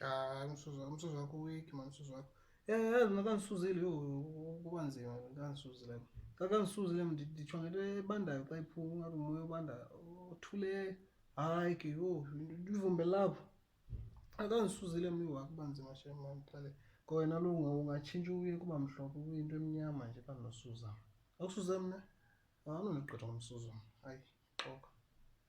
Hayi umsuzo umsuzo wakho weak man umsuzo wakho. Yeah yeah mina kangisuzile yo kuba nzima kangisuzile. Kangisuzile ndithwa ngento ebandayo xa iphuma ngathi umoya obanda othule hayi ke yo ivumbe lapho. Akangisuzile mina wakho kuba nzima shem man qale. Kona lo ungatshintsha uye kuba mhlophe kuyinto emnyama nje kanosuza. Akusuze mina. Awunonigqitha ngomsuzo. Hayi xoka.